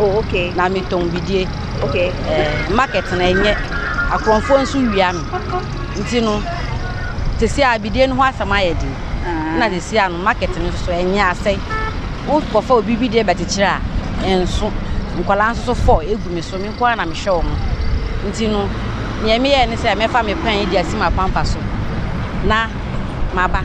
Oh, okay. Na me tɔn bidie. Okay. Eh, market na enye. Akorɔmfoɔ nso wia me. Nti no, tesi a bidie no ho asɛm ayɛ den. Ah. Na tesi a no market no nso enye asɛe. Wo kɔfa obi bidie bɛkyekyere a, enso. Nkwadaa nso so fɔ egu me so. Me nko ara na mehwɛ wɔn. Nti no, nea meyɛ ne sɛ mɛfa me pan adi asi m'apampa so. Na maba.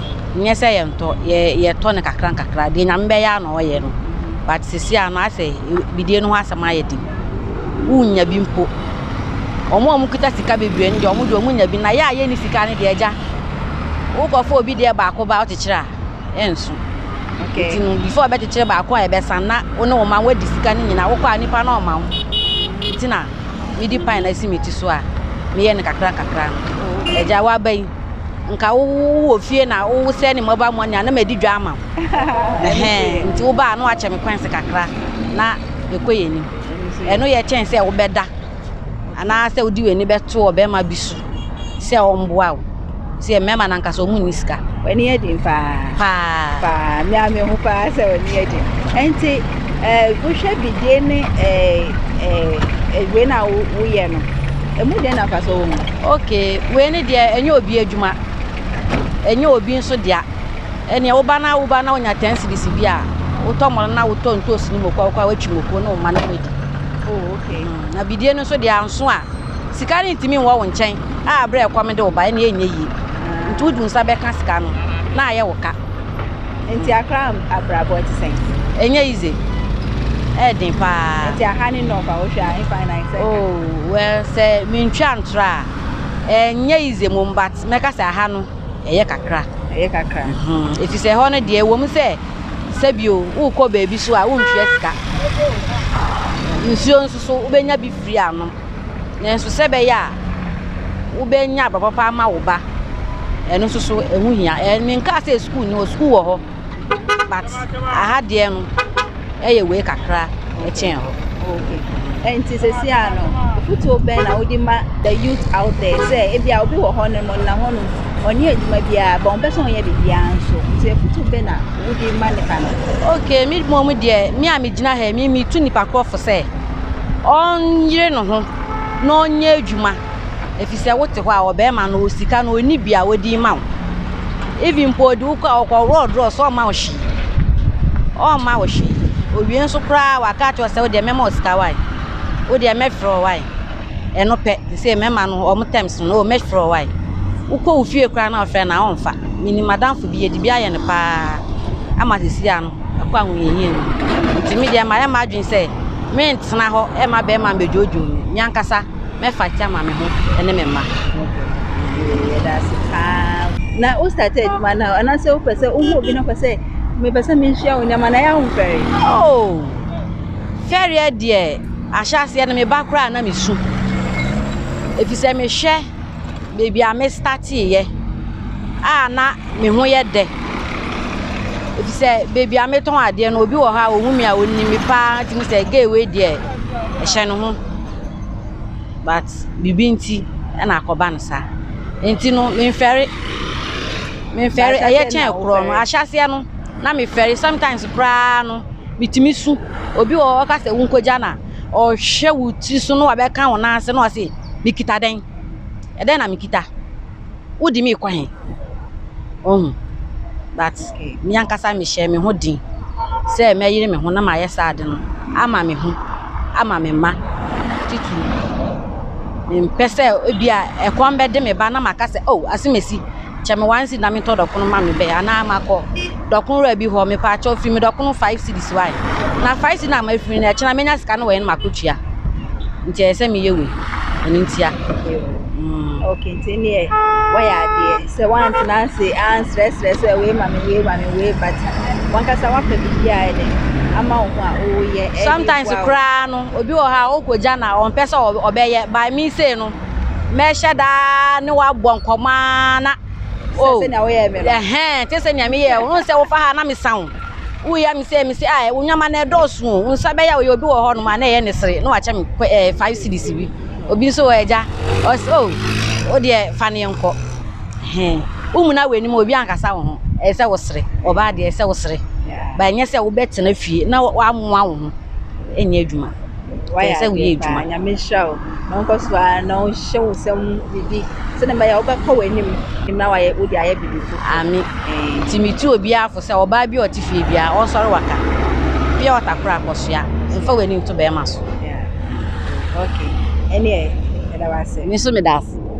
nnyɛ sɛ yɛnntɔ yɛ yɛtɔ no kakra nkakra deɛ nyame bɛyɛ a na ɔyɛ no but sisi a no asɛ bidie no ho asɛm ayɛ den wonnya bi mpo ɔmo a ɔmo kita sika bebree no deɛ ɔmo deɛ ɔmo nya bi na yɛ a yɛnni sika no deɛ agya wokɔfa obi deɛ baako ba ɔkyekyere a ɛnso okay nti no before ɔbɛkyekyere baako a ɛbɛsan na wo ne wo ma wadi sika no nyinaa wokɔ a nipa na ɔma wo nti na medi pan na esi me ti so a meyɛ no kakra kakra no agya waba yi nka wo wɔ fie na wo sɛ ne mɔba mɔni a na madi dwa ama wo ɛhɛn nti wo baa na wakyɛ me kwansi kakra na ɛkɔ yɛ anim ɛno yɛ kyɛn sɛ wobɛda anaasɛ wode w'ani bɛto ɔbɛrima bi so sɛ ɔmboa wo sɛ mmarima no ankasa ɔmu nni sika w'ani yɛ den paa paa paa me a me ho paa sɛ w'ani yɛ den ɛnti eh, wohwɛ bidie ne eh, eh, eh, wei na woyɛ no Ɛmu dɛn na mfasoɔ wɔ mu? Okay, wei ne deɛ ɛnyɛ obi adwuma, ɛnyɛ obi nso dea. Ɛneɛ woba na woba na wonya 10 cedis bi a, wotɔ mɔno na wotɔ ntoosi no moko a wokɔ a watwi moko ne wo ma no wadi. Oh, okay. Mm, na bidie no nso deɛ anso a, sika no ntumi nwɔ wo nkyɛn a berɛ ɛkɔm de wo ba ɛneɛ ɛnyɛ yie. Nti wode wo nsa bɛka sika no na ayɛ wo ka. Nti akra abrabɔ ɛte sɛn? Ɛnyɛ easy. Ɛyɛ den paa. Nti aha ne nɔɔfa wohwɛ a ɛfa na ɛsɛ. Oh, well sɛ mentwa ntorɔ a ɛnyɛ easy mom but mɛka sɛ aha no ɛyɛ kakra. Ɛyɛ kakra. Mhm. Ɛfiri sɛ ɛhɔ no deɛ ɛwɔ mu sɛ sɛbio wokɔ baabi so a wontwea sika. Nsuo nso so wobɛnya bi firi anom. Nanso sɛ ɛbɛyɛ a wobɛnya abrabɔ pa ama wo ba, ɛno nso so ɛho hia. Menkaa sɛ sukuu ni hɔ, sukuu wɔ hɔ, but aha deɛ no ɛyɛ wei kakra ɛkyɛn hɔ. Nti sɛsi a no, fotuo bɛn na wode ma the youth out there sɛ ebi a obi wɔ hɔ nom na hɔ nom ɔne adwuma biara bɔn pɛ sɛ ɔnyɛ biribiara nso nti afutu bɛ na wode ma nipa no okay me mmom deɛ me a megyina ha me metu nipa korɔfo sɛ ɔnyere ne ho na ɔnyɛ adwuma efisɛ wote hɔ a ɔbarima no ɔwɔ sika na ɔnni bi a ɔde rema wo. Even mpo ɔde wo kɔ a ɔkɔworɔ draw so a ɔmma wo hwee. Ɔmma wo hwee. Ɔwie nso koraa waka akyerɛ wo sɛ wo deɛ mɛma wo sika wae. Wo deɛ mɛfrɛ wo wae. Ɛno pɛ te sɛ mmarima no wɔn terms no oh mɛfrɛ wo wae. Wokɔ wo fie koraa na ɔfrɛ no a ɔmfa. Menim m'adamfo bi yɛde bi ayɛ no paa ama seesei ano. kɔ ahohiahia mu. Nti me deɛ mayɛ m'adwene sɛ mentena hɔ mma bɛrima mmɛdwoodwoo me. Me ankasa mɛfight ama me ho ne me mma. Yɛda ase paa. Na wo start adwuma no a, anaasɛ wopɛ sɛ wohu obi no kɔ sɛ mepɛ sɛ menhyia wo nneɛma na ɛyɛ ahofɛre? Oh, fɛreɛ deɛ ahyɛaseɛ no meba koraa na mesu. Ɛfiri sɛ mehwɛ baabi a me startee yɛ a na me ho yɛ dɛ efisɛ baabi a me tɔn adeɛ no obi wɔ hɔ a ohu me a onim me paa nti me sɛ gay wei deɛ ɛhyɛ ne ho but biribi nti ɛna akɔ ba no saa nti no me nfɛre me nfɛre ɛyɛ kyɛn korɔ no ahyɛ aseɛ no na me fɛre sometimes koraa no me tumi su obi wɔ hɔ ɔka sɛ wo nkɔ gya na ɔhwɛ wo tiri so na wabɛka wo nan ase na wase. Mekita dɛn? Ɛdɛn na mekita? Wode me rekɔ he? Wahu? But me ankasa mehyɛɛ me ho den sɛ mɛyere me ho na mayɛ saa ade no ama me ho, ama me mma titiriw. Mempɛ sɛ ebia ɛkɔm bɛde me ba na maka sɛ, oh, asɛm asi. Kyɛ me wansi na metɔ dɔkono ma me bɛ anaa makɔ dɔkono wura bi hɔ mepa akyɛw firi me dɔkono five cities wae na five cities na ma firi no ɛkyɛ na menya sika no wɔ yɛn mako tua nti ɛyɛ sɛ meyɛ wei ɛno ntia. Okay, nti ne yɛ wɔyɛ adeɛ sɛ wantena ase ansrɛsrɛ sɛ wei ma me wei ma me wei but wankasa wapɛ biribi a ɛde ama wo ho a woyɛ. Sometimes koraa no obi wɔ hɔ a ɔkɔgya na ɔmpɛ sɛ ɔbɛyɛ by me say no. mɛhyɛ daa ne wabɔ nkɔmmɔ ara na o ɛhɛn te sɛ nea meyɛ wo sɛ wofa ha na mesa wo woyɛ me sɛ me sɛ a wonyama na ɛdɔɔso o wo nsa bɛyɛ ɔyɛ obi wɔ hɔ nom a na ɛyɛ ne sere na wakyɛ me ɛɛ five series bi obi nso wɔ agya ɔsɛ o wo deɛ fa ne nkɔ hɛn wo mu na w'anim obi ankasa wo ho ɛyɛ sɛ wo sere ɔbaa deɛ ɛyɛ sɛ wo sere ba ɛnyɛ sɛ wobɛtena fie na wamoa wo ho ɛnyɛ adwuma. Wayɛ sɛ woyɛ adwuma. Paa, nyame nhyira wo. Na ɔnkɔ so ara na ɔnhyɛ wo nsam biribi sɛdeɛ ɛbɛyɛ a wobɛkɔ w'anim na wayɛ wode ayɛ biribi fo. Ame. Nti metu obiara fo sɛ ɔbaa bi a ɔte fie biara ɔnsɔre waka. Pia ɔta koro akɔsoa. Mfa w'ani nto bɛrima so. Yeah. Okay. Ɛne ɛ, ɛda wase. Me nso meda ase.